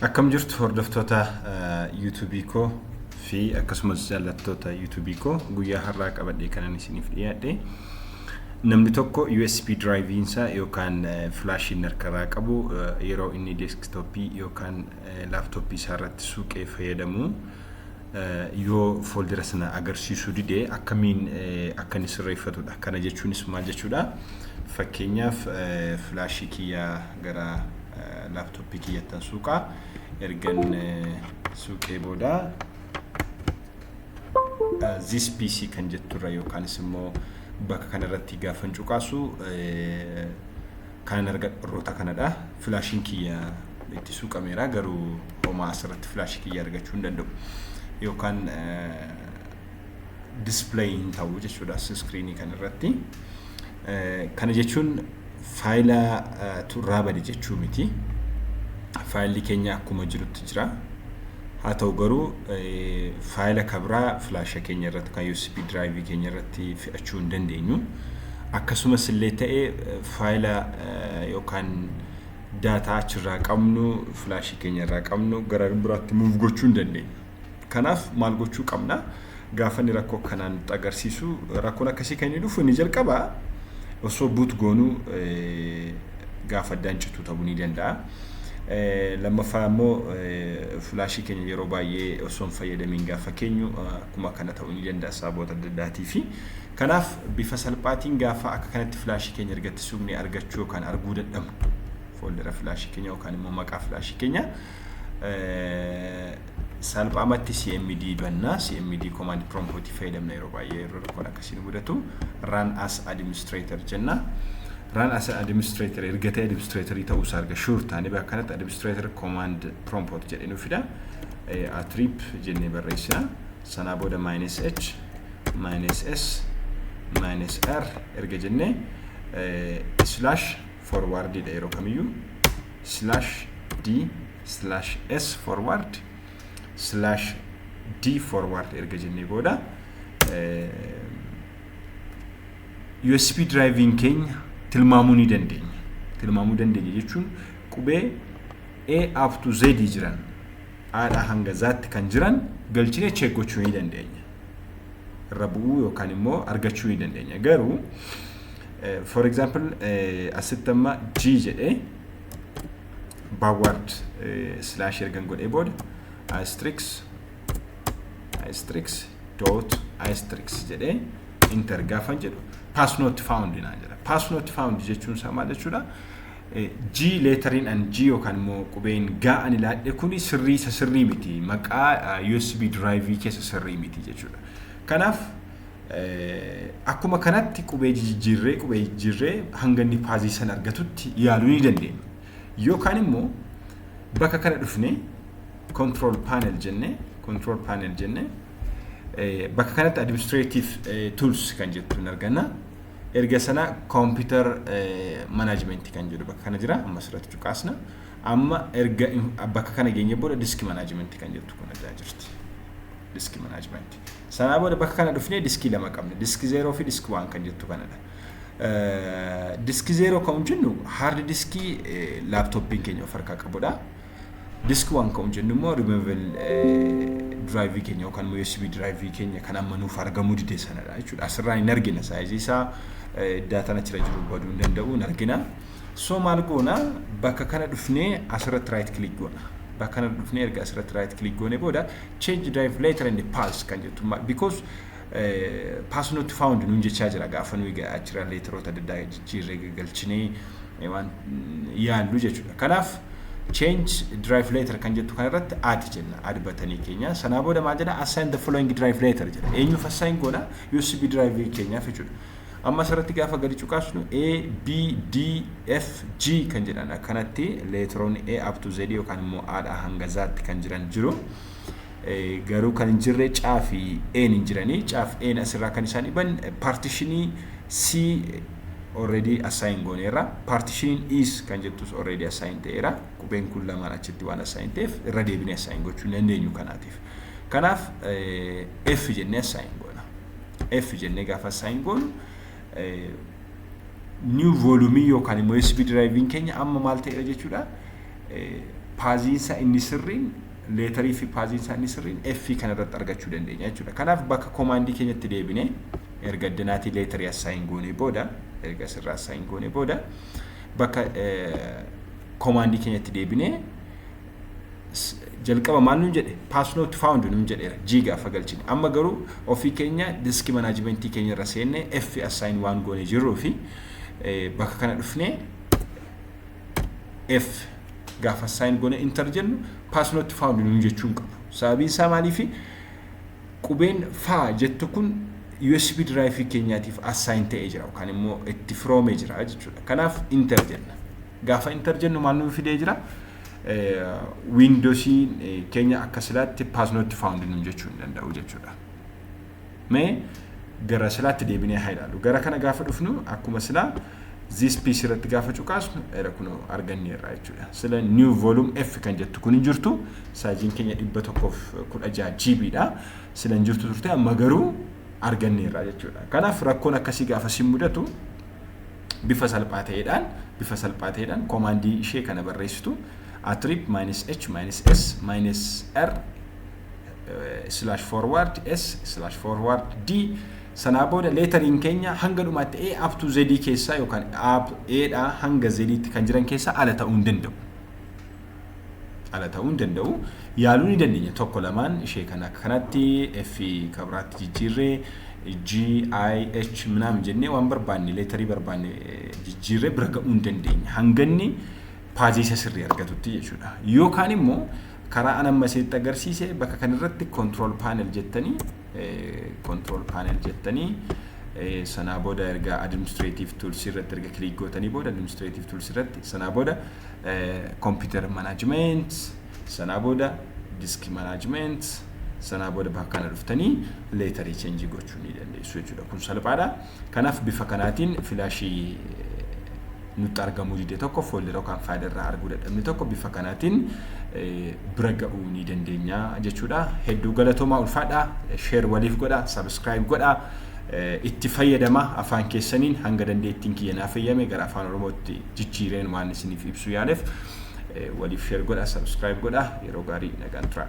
Akkam jirtu hordoftoota yuutuubii koo fi akkasumas jaallattoota yuutuubii koo guyyaa har'aa qabadhee kanan isiniif dhiyaadhe namni tokko USB diraayiviin isaa yookaan filaashiin harkaraa qabu yeroo inni deeskitooppii yookaan laaptooppii isaa irratti suuqee fayyadamu yoo fooldira sana agarsiisuu dide akkamiin akka inni sirreeffatudha. Kana jechuunis maal jechuudha? Fakkeenyaaf filaashii kiyyaa gara laaptooppii kiyyattan suuqaa ergan suuqee booda this pc kan jetturra yookaanis immoo bakka kanarratti gaafan cuqaasu kanan argadhu warroota kanadha filaashiin kiyya itti suuqameera garuu homaa asirratti filaashii kiyya argachuu hin danda'u yookaan display hin ta'u jechuudha iskiriinii kan irratti. Kana jechuun faayila turraa bade jechuu miti. Faayilli keenya akkuma jirutti jira. Haa ta'u garuu faayila kabraa filaasha keenya irratti kan USB drive keenya irratti fe'achuu hin dandeenyu. Akkasumas illee ta'e faayila yookaan daataa achirraa qabnu filaashii keenya irraa qabnu gara biraatti muuf gochuu hin dandeenyu. Kanaaf maal gochuu qabna? Gaafa inni rakkoo akkanaa nutti agarsiisu rakkoon akkasii kan inni dhufu inni jalqaba osoo buut goonuu gaafa addaan cituu ta'uu ni danda'a. Lammaffaa immoo filaashii keenya yeroo baay'ee osoo hin fayyadamiin gaafa keenyu akkuma kana ta'uu ni danda'a sababoota adda addaatii fi kanaaf bifa salphaatiin gaafa akka kanatti filaashii keenya ergatti suuqnee argachuu yookaan arguu dadhabnu fooldera filaashii keenya yookaan immoo maqaa filaashii keenya salphaamatti cmd banna cmd command prompt fayyadamna yeroo baay'ee yeroo rakkoon akkasiin mudatu run as administrator jenna run as administrator erga ta'e administratorii ta'uu isaa erga sure taanee bakka kanatti administrator command prompt jedhee nu fida atrip jennee barreessina sanaa booda minus h minus s minus r erga jennee slash forward dha yeroo kamiyyuu slash d slash s forward slash d forward erga jennee booda USB driving keenya tilmaamuu ni dandeenya. Tilmaamuu dandeenya jechuun qubee A up to Z jiran haadhaa hanga zaatti kan jiran galchine check gochuu ni dandeenya. Irra bu'uu yookaan immoo argachuu ni dandeenya. Garuu for example asitti amma g jedhe backward slash ergan godhee booda asterix asterix dot asterix jedhee inter gaafan jedhu pass not found naa jedha pass not found jechuun isaa maal jechuudha g leetariin an g yookaan immoo qubeen gaa ani laadhe kuni sirrii isa sirrii miti maqaa usb diraayivii keessa sirrii miti jechuudha kanaaf Akkuma kanatti qubee jijijjiirree qubee jijjiirree hanga inni paazii san argatutti yaaluu ni dandeenya. Yookaan immoo bakka kana dhufne control panel jenne control panel jenne bakka kanatti administrative tools kan jettu hin arganna. Erga sana computer management kan jedhu bakka kana jira amma asirratti cuqaasna. Amma erga bakka kana geenye booda disk management kan jettu kun irraa jirti. Disk management. Sanaa booda bakka kana dhufnee diskii lama qabna. Disk 0 fi disk 1 kan jettu kanadha. Disk 0 kan jennu hard diskii laaptooppiin keenya of harkaa qabudha. Disk 1 kan jennu immoo removable diraayivii keenya yookaan USB diraayivii keenya kan amma nuuf argamuu dide sanadha jechuudha. Asirraa hin argina saayizii isaa daataan achirra jiru baduu hin danda'u hin argina. So maal goona bakka kana dhufnee asirratti raayit kilik goona. Bakka kana dhufnee erga asirratti raayit kilik goone booda change drive letter and pass kan jettu ma- because eh, pass not found nuun jechaa jira gaafa nuyi ga- achirra leeteroota adda addaa jijjiirree galchinee eh, waan mm, yaallu jechuudha kanaaf change drive letter kan jettu kana irratti add jenna add batanii keenya sanaa booda maal jedha assign the following drive letter jedha eenyuuf assign goona usb drive keenyaaf jechuudha Amma asirratti gaafa gadi cuqaasnu A, B, D, F, G kan jedhan akkanatti leetiroonni A up to Z yookaan immoo A dhaa hanga Z tti kan jiran jiru. Garuu kan hin jirre C fi A hin jiranii. C fi A asirraa kan isaan dhiban paartishinii C already assign gooneerra. Paartishiniin E's kan jettus already assign ta'eera. Qubeen kun lamaan achitti waan assign ta'eef irra deebinee assign gochuu hin dandeenyu kanaatiif. Kanaaf F jennee assign goona. F jennee gaafa assign goonu new volume yookaan immoo USB drive keenya amma maal ta'eera jechuudha. Paaziinsa inni sirriin leetarii fi paaziinsa inni sirriin F kana irratti argachuu dandeenya jechuudha. Kanaaf bakka komaandii keenyatti deebine erga addinaatii leetarii assign goonee booda erga sirraa assign goonee booda bakka komaandii keenyatti deebinee S- jalqaba maal nun jedhe pass not found nun jedheera g gaafa galchine amma garuu ofii keenya diski manaajimentii keenya irra seenne f assign waan goone jirruu fi eh, bakka kana dhufnee f gaafa assign goone enter jennu pass not found nun jechuu hin qabu sababiin isaa maaliifi qubeen faa jettu kun USB drive keenyaatiif assign ta'ee jira yookaan immoo itti firoomee jira jechuudha. Kanaaf enter jenna. Gaafa enter jennu maal nuuf fidee jira? wiindosiin keenya akka silaatti paasnotti faawundi nuun jechuu hin danda'u jechuudha. Mee gara silaatti deebinee haa ilaalu. Gara kana gaafa dhufnu akkuma silaa this piece irratti gaafa cuqaasnu era kunoo arganneerra jechuudha. Sila new volume F kan jettu kun hin jirtu saayiziin keenya dhibba tokkoof kudha jaha GB dha. Sila hin jirtu turte amma garuu arganneerra jechuudha. Kanaaf rakkoon akkasii gaafa si mudatu bifa salphaa ta'eedhaan bifa salphaa ta'eedhaan koomaandii ishee kana barreessitu attrib minus h minus s minus r slash forward s slash forward d sanaa booda leetariin keenya hanga dhumaatti a up to z keessaa yookaan a dhaa hanga z tti kan jiran keessaa ala ta'uu hin danda'u. ala ta'uu hin danda'u. Yaaluu ni dandeenya tokko lamaan ishee kan akka kanatti F ka biraatti jijjiirre G, I, H minaamin jennee waan barbaanne leetarii barbaanne jijjiirre bira ga'uu hin dandeenya. Hanganni paazii isa sirrii argatutti jechuudha. Yookaan immoo karaa an amma isinitti agarsiise bakka kanarratti control panel jettanii control panel jettanii sanaa booda erga administrative tools irratti erga click gootanii booda administrative tools irratti sanaa booda computer management sanaa booda disk management sanaa booda bakka kana dhuftanii leetarii cheenjii gochuu ni dandeessu jechuudha kun salphaadha kanaaf bifa kanaatiin filaashii nutti argamuu dide tokko foolderoo kan faayilii irraa arguu dadhabne tokko bifa kanaatiin bira ga'uu ni dandeenya jechuudha hedduu galatoomaa ulfaadha sheer waliif godha sabiskiraayib godha itti fayyadama afaan keessaniin hanga dandeettiin kiyya naa fayyame gara afaan oromootti jijjiireen waan isiniif ibsu yaaleef waliif share godha subscribe godha yeroo gaarii nagaan turaa.